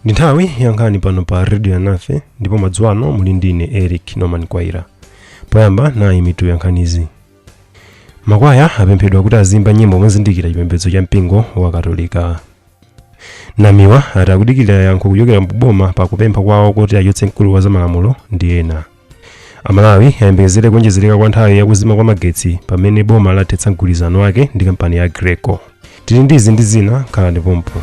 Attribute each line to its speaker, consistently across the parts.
Speaker 1: ndi nthawi yankhani pano pa redio alinafe ndipo madzulo ano muli ndi ine eric norman khwaira poyamba nayi mitu yankhanizi makwaya apemphedwa kuti aziyimba nyimbo mozindikira chipembedzo cha mpingo wa katolika namiwa ati akudikirira yankho kuchokera ku boma pa kupempha kwawo kuti achotse mkulu wa zamalamulo ndi ena amalawi ayembekezere kuonjezereka kwa nthawi yakuzima kwa magetsi pamene boma lathetsa mgwirizano wake ndi kampani ya aggreko tili ndi izi ndi zina khalani pompo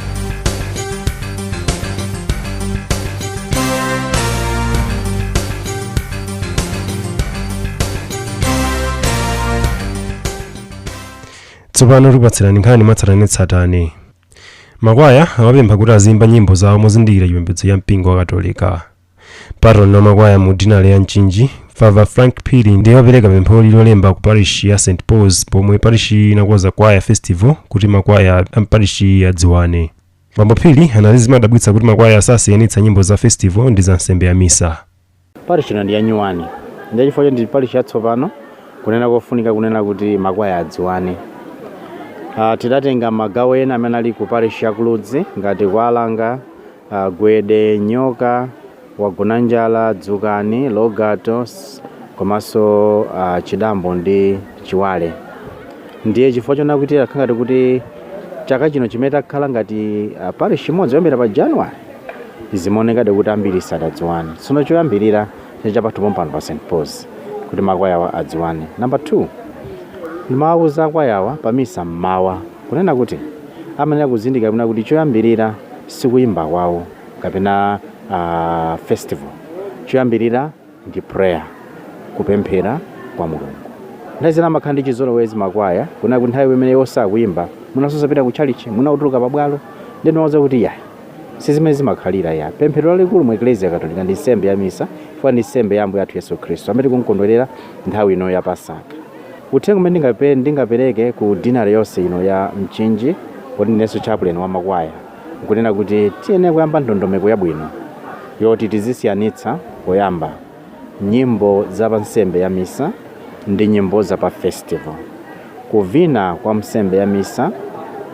Speaker 1: tsopano tikupatsirani nkhani mwatsatanetsatane makwaya awapempha kuti aziyimba nyimbo zawo mozindikira chipembedzo cha mpingo wa katolika patron wa makwaya mu dinale ya mchinji father frank phiri ndiye wapereka pempholi lolemba ku parishi ya st pauls pomwe parishiyi inakonza kwaya festival kuti makwaya a mparishiyi adziwane bambo phiri anati zimadabwitsa kuti makwaya sasiyanitsa nyimbo za festival ndi za nsembe ya misa Parish ino ndi yanyuwani ndiye chifukwa choti ndi parish yatsopano kunena kofunika kunena kuti makwaya adziwane. Ah, tidatenga magawo ena amene ali ku parish ya ku Ludzi ngati Kwalanga, ah, Gwede, Nyoka, wa Gonanjala, Dzukani, Logato s- komanso ah, Chidambo ndi Chiwale. Ndiye chifukwa chonena kuti takhala ngati kuti chaka chino ndi chimene takhala ngati ah, parish imodzi kuyambira pa January zimaonekadi kuti ambiri sadadziwane tsono choyambirira chapathu pompano pa st pauls kuti makwayawa adziwane namba 2 ndimawawuza akwayawa pa misa mmawa kunena kuti amayenera kuzindikira kunena kuti choyambirira sikuyimba kwawo kapena uh, festival choyambirira ndi prayer, kupemphera kwa Mulungu. Nthawi zina amakhala ndi chizolowezi makwaya, kunena kuti nthawi imene iwo sakuyimba, mwina osapita ku tchalichi, mwina kutuluka pabwalo, ndi ndimawuza kuti yayi, si zimene zimakhalira ya pemphero lalikulu mu eklesia katolika ndi nsembe ya misa chifukwa ndi nsembe ya ambuye athu yesu khristu amene tikumkondwerera nthawi ino ya pasaka uthenga umene ndingape- ndingapereke ku dinale yonse ino ya mchinji poti ndinenso chaplain wa makwaya nkunena kuti tiyenera kuyamba ndondomeko yabwino yoti tizisiyanitsa poyamba nyimbo za pa nsembe ya misa ndi nyimbo za pa festival kuvina kwa nsembe ya misa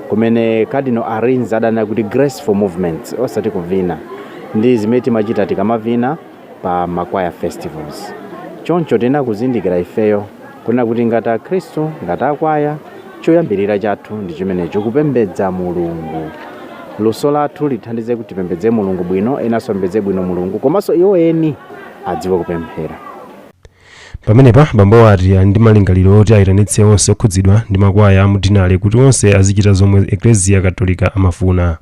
Speaker 1: kumene cardinal arinze adanena kuti graceful movements osati kuvina ndi zimene timachita tikamavina pa ma choir festivals. Choncho tiyenera kuzindikira ifeyo kunena kuti ngati akhristu, ngati akwaya, choyambirira chathu ndi chimenecho, kupembedza Mulungu. Luso lathu lithandize kuti tipembedze Mulungu bwino, enanso apembedze bwino Mulungu, komanso iwo eni adziwe kupemphera. Pamenepa, bambowo ati ali ndi malingaliro oti ayitanitse onse okhudzidwa ndi makwaya a mudinale kuti onse azichita zomwe Eklezia Katolika amafuna.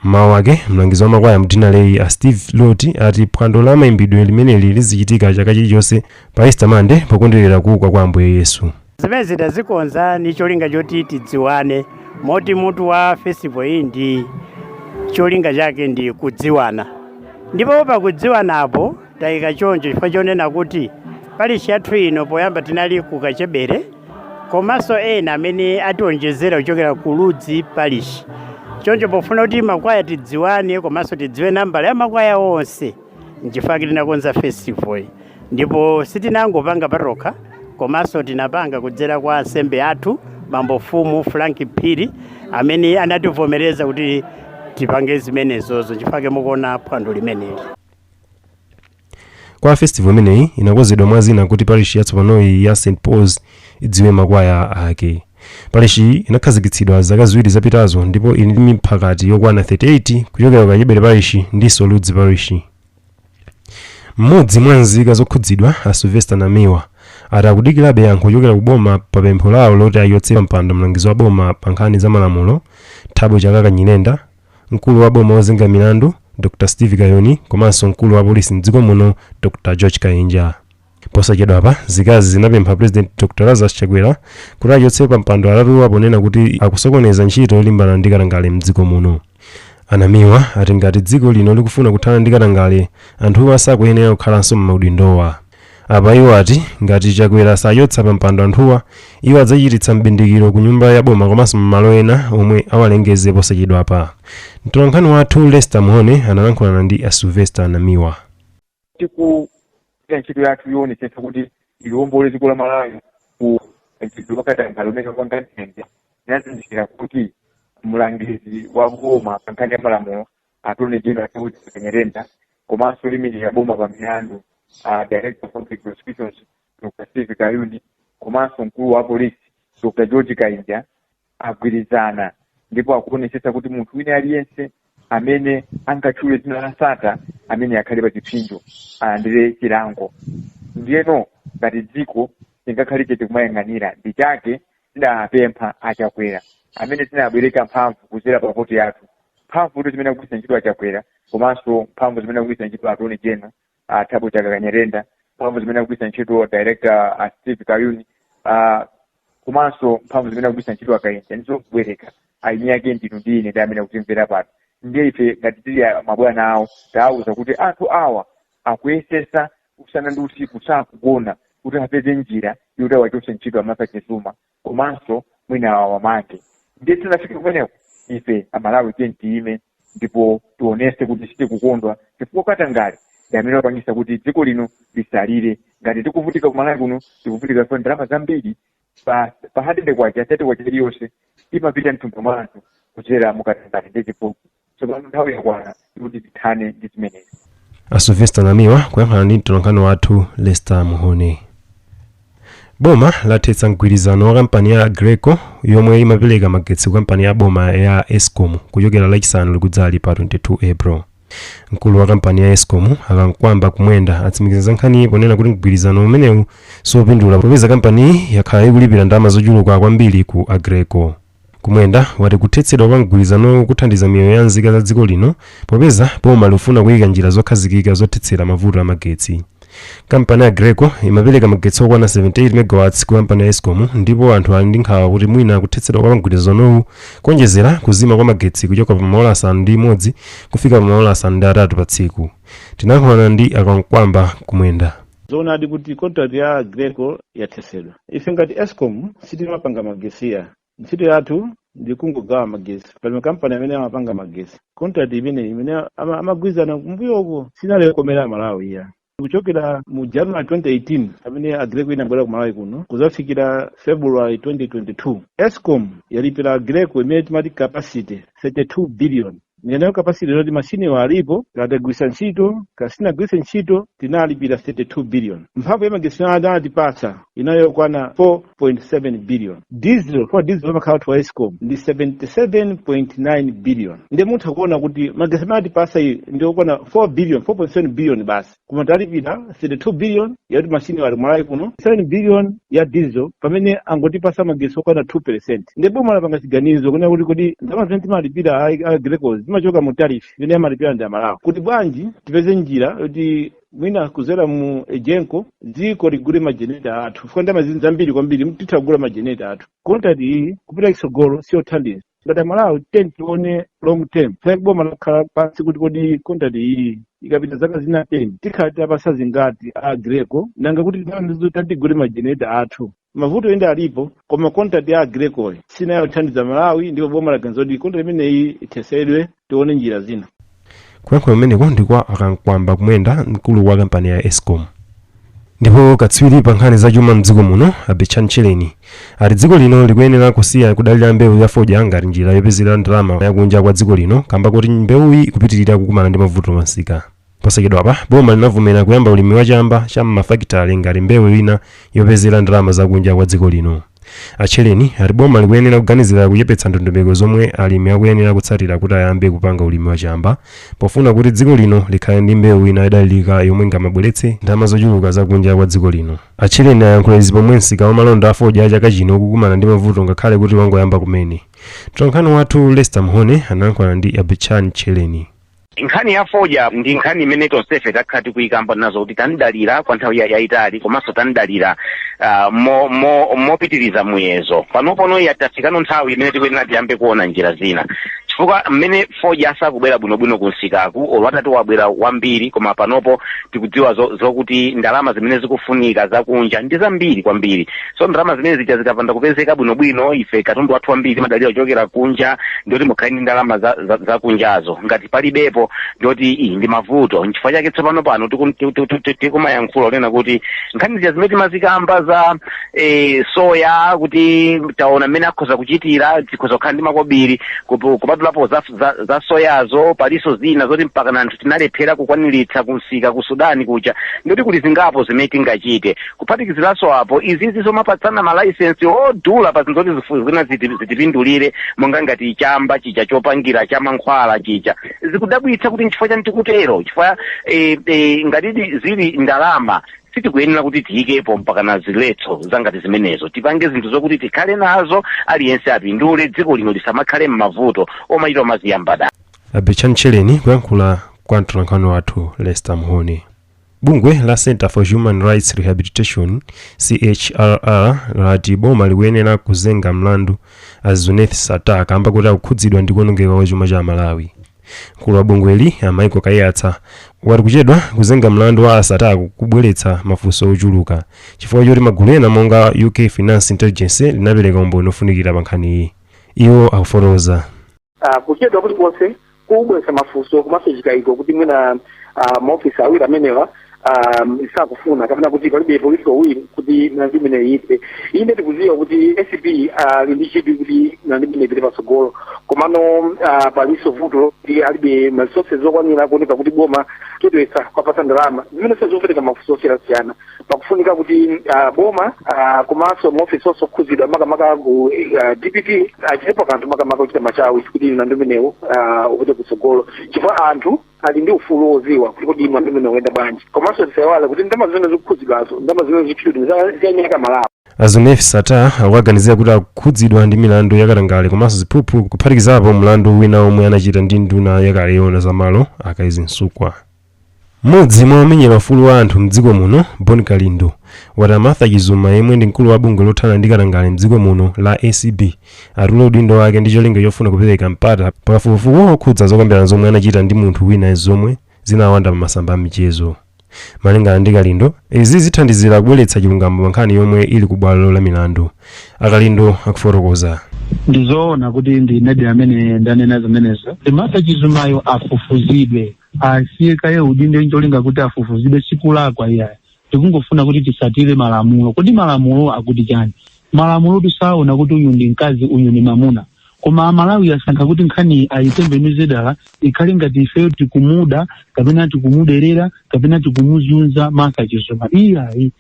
Speaker 1: M'mawu ake, mlangizi wa makwaya m'dinaleyi a Steve Loti ati phwando la maimbidwe limeneli lizichitika chaka chilichonse pa Easter Monday pokondwerera kuuka kwa Ambuye Yesu. Zimenezi tazikonza ndi cholinga choti tidziwane moti mutu wa festival iyi ndi cholinga chake ndi kudziwana ndipo pakudziwanapo Taika choncho chifukwa chonena kuti parishi yathu ino poyamba tinali ku Kachebere komanso ena amene ationjezera kuchokera ku Ludzi parishi. Choncho pofuna kuti makwaya tidziwane komanso tidziwe nambala ya makwaya onse nchifukwa chake tinakonza festival iyi. Ndipo sitinangopanga patokha komanso tinapanga kudzera kwa ansembe athu bambo mfumu Frank Phiri amene anativomereza kuti tipange zimenezozo nchifukwa chake mukuona phwando limeneli. Kwaya festival imeneyi inakonzedwa mwa zina kuti parishi yatsopanoyi ya St Paul's idziwe makwaya ake. Parishiyi inakhazikitsidwa zaka ziwiri zapitazo ndipo ili ndi miphakati yokwana 38 kuchokera ku Kachebere parishi ndinso Ludzi parishi. Mmodzi mwa nzika zokhudzidwa, a Sylvester Namiwa, ati akudikirabe yankho kuchokera ku boma pa pempho lawo loti achotse pampando mlangizi wa boma pa nkhani za malamulo, Thabo Chakaka Nyirenda, Mkulu wa boma wozenga milandu, Dr Steve Kayuni komanso mkulu wa polisi m'dziko muno, Dr George Kainja. Posachedwapa, nzikazi zinapempha Pulezidenti Dr Lazarus Chakwera kuti achotse pampando atatuwa ponena kuti akusokoneza ntchito yolimbana ndi katangale m'dziko muno. A Namiwa ati ngati dziko lino likufuna kuthana ndi katangale, anthuwa sakuyenera kukhalanso m'maudindowa. Apa iwo ati ngati Chakwera sachotsa pa mpando anthuwa, iwo adzachititsa m'bindikiro ku nyumba ya boma komanso m'malo ena omwe awalengeze posachedwapa. Mtolankhani wathu Lester Mhone analankhulana ndi a Sylvester Namiwa. pogwira ntchito yathu yoonetsetsa kuti liwombole dziko la Malawi ku mchitidwe wakatangale umene wapanga nthenje inazindikira kuti mlangizi wa boma pa nkhani ya malamulo attorney general a Thabo Chakaka Nyirenda komanso oyimirira boma pa milandu a director of public prosecutions Dr. Steve Kayuni komanso mkulu wa polisi Dr. George Kainja agwirizana ndipo akuonetsetsa kuti munthu wina aliyense amene angatchule dzina la Sattar ameneyo akhale pa chipsinjo alandire chilango ndiyeno ngati dziko tingakhale chete kumayang'anira ndi chake tidapempha achakwera amene tinabwereka mphamvu kudzera pa voti yathu mphamvu zimene akugwiritsa ntchito achakwera komanso mphamvu zimene akugwiritsa ntchito attorney general athabo chakaka nyirenda mphamvu zimene akugwiritsa ntchito director a steve kayuni ah, komanso mphamvu zimene akugwiritsa ntchito akayenja ndi zobwereka eni ake ndinu ndi ine ndi amene akutimvera pano ndiye ife ngati tili a- mabwana awo tawauza kuti anthu awa akuyesesa usana ndi usiku sakugona kuti apeze njira yoti awachotse ntchito amartha chizuma komanso mwina awamange ndiye tisanafike kumeneko ife amalawi tiyeni tiyime ndipo tionese kuti sitikukondwa chifukwa katangale ndi amene wapangisa kuti dziko lino lisalire ngati tikuvutika kumalawi kuno tikuvutika chifukwa ndalama zambiri pa hundred kwacha thirty kwacha iliyonse imapita mthumba mwa anthu kudzera mukatangale ndi chiphuphu tsopano nthawi yakwana kuti tithane ndi zimenezi a sylvester namiwa kuyankhula ndi mtolankhani wathu lester mhone boma lathetsa mgwirizano wa kampani ya aggreko yomwe imapereka magetsi ku kampani ya boma ya escom kuchokera lachisanu likudzali pa 22 april mkulu wa kampani ya escom akamkwamba kumwenda atsimikiza za nkhaniyi ponena kuti mgwirizano umenewu siwopindula popeza kampaniyi yakhala ikulipira ndalama zochuluka kwambiri ku aggreko kumwenda wati kuthetsedwa kwa mgwirizanowu kuthandiza miyoyo ya nzika za dziko lino popeza boma likufuna kuyika njira zokhazikika zothetsera mavuto a magetsi kampani ya aggreko imapereka magetsi okwana 78 megawatts ku kampani ya escom ndipo anthu ali ndi nkhawa kuti mwina kuthetsedwa kwa mgwirizanowu kuonjezera kuzima kwa magetsi kuchoka pa maola asanu ndi imodzi kufika pa maola asanu ndi atatu pa tsiku tinayankhulana ndi akamkwamba kumwenda zoonadi kuti contract ya aggreko yathetsedwa ife ngati escom sitimapanga magesi iyayi ntchito yathu ndi kungogawa magesi pali makampani amene amapanga magesi contract imene imene ama- amagwirizana kumbuyo uko sinali yokomera amalawi iyayi kuchokera mu january 2018 pamene aggreko inabwera ku malawi kuno kuzafikira february 2022 escom yalipira aggreko imene timati capacity 32 billion Ndiyeno capacity kunena kuti mashiniwo alipo kaya tagwiritsa ntchito kaya sitinagwiritse ntchito tinalipira 32 billion mphamvu ya magetsi imene anatipatsa inali yokwana 4.7 billion diesel kwa diesel amakhala wa escom ndi 77.9 billion ndiye mutha kuona kuti magetsi amene atipatsa iyi ndi okwana 4 billion 4.7 billion basi koma talipira 32 billion yakuti mashini ali kumalawi kuno 77 billion ya diesel pamene angotipasa magetsi okwana 2 percent ndiye boma lapanga chiganizo kunena kuti kodi ndalama zimene timalipira aggreko zimachoka mu tariff imene amalipira ndi amalawi kuti bwanji tipeze njira yoti mwina kuzera mu egenco dziko tigule majeneta athu chifukwa ndalama zambiri kwambiri titha kugula majeneta athu contract iyi kupita kusogolo siyothandiza ngati amalawi titaona long term plan ke boma lakhala pansi kuti kodi contract iyi ikapita zaka zina ten tikhala titawapatsa zingati Aggreko nanga kuti ndalamazo titati tigule majenereta athu mavuto inde alipo koma contract ya Aggrekoyi sinathandize malawi ndipo boma laganiza kuti contract imeneyi ithetsedwe tione njira zina kuyankhula kumeneko ndi kwa a Kamkwamba Kumwenda mkulu wa kampani ya escom ndipo katswiri pa nkhani za chuma mdziko muno a Betchani Tchereni ati dziko lino likuyenera kusiya kudalira mbewu ya fodya ngati njira yopezera ndalama yakunja kwa dziko lino kamba kuti mbewuyi ikupitirira kukumana ndi mavuto pamsika Posachedwapa boma linavomera kuyamba ulimi wa chamba cha m'mafakitale ngati mbewu ina yopezera ndalama zakunja kwa dziko lino. A Tchereni ati boma likuyenera kuganizira kuchepetsa ndondomeko zomwe alimi akuyenera kutsatira kuti ayambe kupanga ulimi wa chamba pofuna kuti dziko lino likhale ndi mbewu ina yodalirika yomwe ingamabweretse ndalama zochuluka zakunja kwa dziko lino. A Tchereni ayankhula izi pomwe msika wa malonda a fodya chaka chino ukukumana ndi mavuto ngakhale kuti wangoyamba kumene. Mtolankhani wathu Lester Mhone anayankhulana ndi a Betchani Tchereni. nkhani ya fodya ndi nkhani imene tonsefe takhala tikuyikamba nazo kuti tanidalira kwa nthawi ya- yayitali komanso tanidalira ah, mo- mo- mopitiriza muyezo panopono yatafikano nthawi imene tikuyenera tiyambe kuona njira zina chifukwa mmene fodya asakubwera bwinobwino kumsikaku olo atati wabwera wambiri koma panopo tikudziwa zo- zokuti ndalama zimene zikufunika zakunja ndi zambiri kwambiri so ndalama zimene zija zikapanda kupezeka bwinobwino ife katundu wathu wambiri timadalira kuchokera kunja ndiye kuti mukhale ndi ndalama za, za, za kunjazo ngati palibepo ndiye kuti iyi ndi mavuto nchifukwa chake tsopano pano tikum- ti- ti- ti- ti- tikumayankhula kunena kuti nkhani zija zimene timazikamba za eh, soya kuti taona mmene akhoza kuchitira zikhoza kukhala ndi makobiri kupu- kupatulapo za, za, za soyazo palinso zina zoti mpakana anthu tinalephera kukwaniritsa kumsika ku sudani kuja ndiye kuti kuli zingapo zimene tingachite kuphatikiziranso apo izizi zomapatsana malaisensi odula pa zinthu zoti zifu- zina ziti- zitipindulire monga ngati chamba chija chopangira cha mankhwala chija zikudabwitsa kuti nchifukwa chani tikutero chifukwa eh, eh, ngatidi zili ndalama sitikuyenera kuti tiyikepo mpakana ziletso zangati zimenezo tipange zinthu zokuti tikhale nazo aliyense apindule dziko lino lisamakhale m'mavuto omachita omaziyamba dala a Betchani Tchereni kuyankhula kwa mtolankhani wathu lester mhone bungwe la center for human rights rehabilitation chrr lati boma likuyenera kuzenga mlandu a zuneth sattar kamba kuti akukhudzidwa ndi kuonongeka kwa chuma cha amalawi mkulu wa bungweli a Michael Kaiyatsa wati kuchedwa kuzenga mlandu wa a sattar kubweretsa mafunso ochuluka chifukwa choti magulu ena monga a uk finance intelligence linapereka umboni ofunikira pa nkhaniyi iwo akufotokoza ah, kuchedwa kulikonse kukubweretsa mafunso komanso chikayiko kuti mwina ah, maofisi awiri amenewa ah, sakufuna kapena kuti palibe political will kuti nkhani imeneyi ipite ine tikuziwa kuti acb ali ndi chidwi kuti nkhani imeneyi ipite patsogolo komano ah, palinso vuto lokuti alibe ma resources zokwanira kuoneka kuti boma likuchedwetsa kuwapatsa ndalama zimene zikupereka mafunso osiyana-siyana pakufunika kuti uh, boma uh, komanso maofesi onse okhudzidwa makamaka ku uh, dpp achitepo kanthu makamaka kuchita machawi kuti mlandu umenewu uh, upite kutsogolo chifukwa anthu ali ndi ufulu wodziwa kuti kodi mlandu umenewu uyenda bwanji komanso tisaiwale kuti ndalama zimene zikukhudzidwazo ndalama zimene zikutchulidwa ndi za anthu a malawi a zuneth sattar akuwaganizira kuti akukhudzidwa ndi milandu yakatangale komanso ziphuphu kuphatikizapo mlandu wina omwe anachita ndi nduna yakale yona zamalo a kezzie msukwa M'modzi mwa omenyera ufulu wa anthu mdziko muno, Bon Kalindo, wati a Martha Chizuma yemwe ndi mkulu wa bungwe lothana ndi katangale mdziko muno la acb, atule udindo wake ndi cholinga chofuna kupereka mpata pa kafukufuku wokhudza zokambirana zomwe anachita ndi munthu wina zomwe zinawanda pa masamba a mchezo. Malingana ndi Kalindo, izi zithandizira kubweretsa chilungamo pa nkhani yomwe ili ku bwalo la milandu. A Kalindo akufotokoza. ndizoona kuti ndinedi amene ndanena zimenezo martha chizumayo afufuzidwe asiye kaye udindo ncholinga kuti afufuzidwe sikulakwa iyayi tikungofuna kuti tisatire malamulo kodi malamulo akuti chani malamulo saona kuti uyu ndi mkazi uyu ndi mamuna koma amalawi musankha kuti nkhani ayitembenuze dala ikhale ngati ifeyo tikumuda kapena tikumuderera kapena tikumuzunza martha chizuma iyayi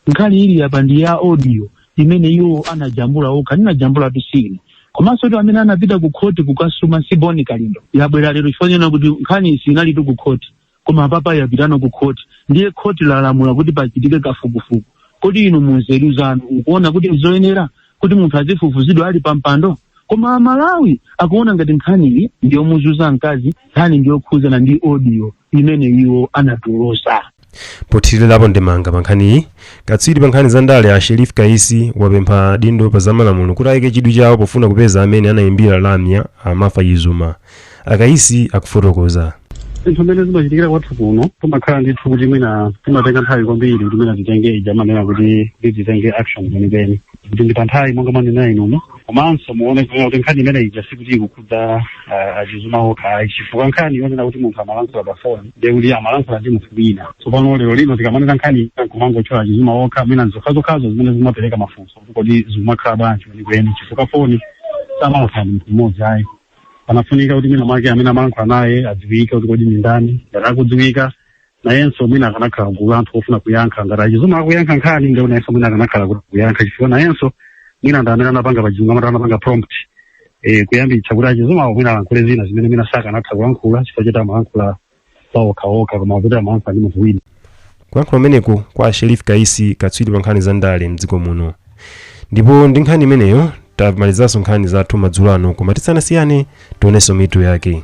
Speaker 1: nkhani ili apa ndi ya audio imene iwo anajambula okha sindinajambulatu si ine komanso kuti amene anapita ku khoti kukasuma si boni kalindo yabwera lero chifukwa chonena kuti nkhaniyi siinalitu ku khoti koma apapa yapitano ku khoti ndiye khoti lalamula kuti pachitike kafukufuku kodi inu munzeru zanu mukuona kuti nzoyenera kuti munthu azifufuzidwa ali pampando koma amalawi akuona ngati nkhaniyi ndiyomuzunza mkazi nkhani ndiyokhudzana ndi audio imene iwo anatulusa pothirirapo ndemanga pa nkhaniyi katswiri pa nkhani za ndale a sherif kaisi wapempha adindo pa zamalamulo kuti ayike chidwi chawo pofuna kupeza amene anayimbira lamya a martha chizuma akaisi akufotokoza zinthu zimene zimachitikira kwathu kuno timakhala ndithu kuti mwina timatenga nthawi kwambiri kuti mwina titenge ija amanena kuti titenge action kwenikweni kuti ndi pa nthawi monga mwanena inumo komanso muone kunena kuti nkhani imene ija sikuti ikukhudza ah, achizuma okha ayi chifukwa nkhani yonena kuti munthu amalankhula pa foni ndiye kuti amalankhula ndi munthu wina tsopano lero lino tikamanena nkhani kumangotchula achizuma okha mwina nzokhazokhazo zimene zimapereka mafunso kuti kodi zikumakhala bwanji kwenikweni chifukwa foni samalankhula ndi munthu mmodzi ayi panafunika kuti mwina mwake amene amalankhula naye adziwike kuti kodi ndi ndani ngati akudziwika nayenso mwina akanakhala gulu la anthu ofuna kuyankha ngati a Chizuma akuyankha nkhani ndiye nayenso mwina akanakhala kuti kuyankha chifukwa nayenso mwina ndi amene anapanga pachizungu amati anapanga prompt eh, kuyambitsa kuti a Chizuma mwina alankhule zina zimene mwina sakanatha kulankhula chifukwa choti amalankhula pa okhaokha koma kuti amalankhula ndi munthu wina kulankhula kumeneku kwa sherif kaisi katswiri pa nkhani za ndale mdziko muno ndipo ndi nkhani imeneyo tamalizanso nkhani zathu madzulo ano koma tisanasiyane tionenso mitu yake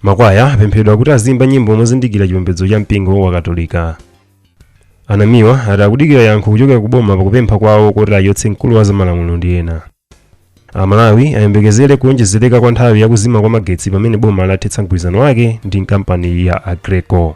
Speaker 1: Makwaya apemphedwa kuti aziyimba nyimbo mozindikira chipembedzo cha mpingo wa Katolika. A NAMIWA ati akudikira yankho kuchokera ku boma pakupempha kwawo koti achotse mkulu wa zamalamulo ndi ena. Amalawi ayembekezere kuonjezereka kwa nthawi yakuzima kwa magetsi pamene boma lathetsa mgwirizano wake ndi kampani ya Aggreko.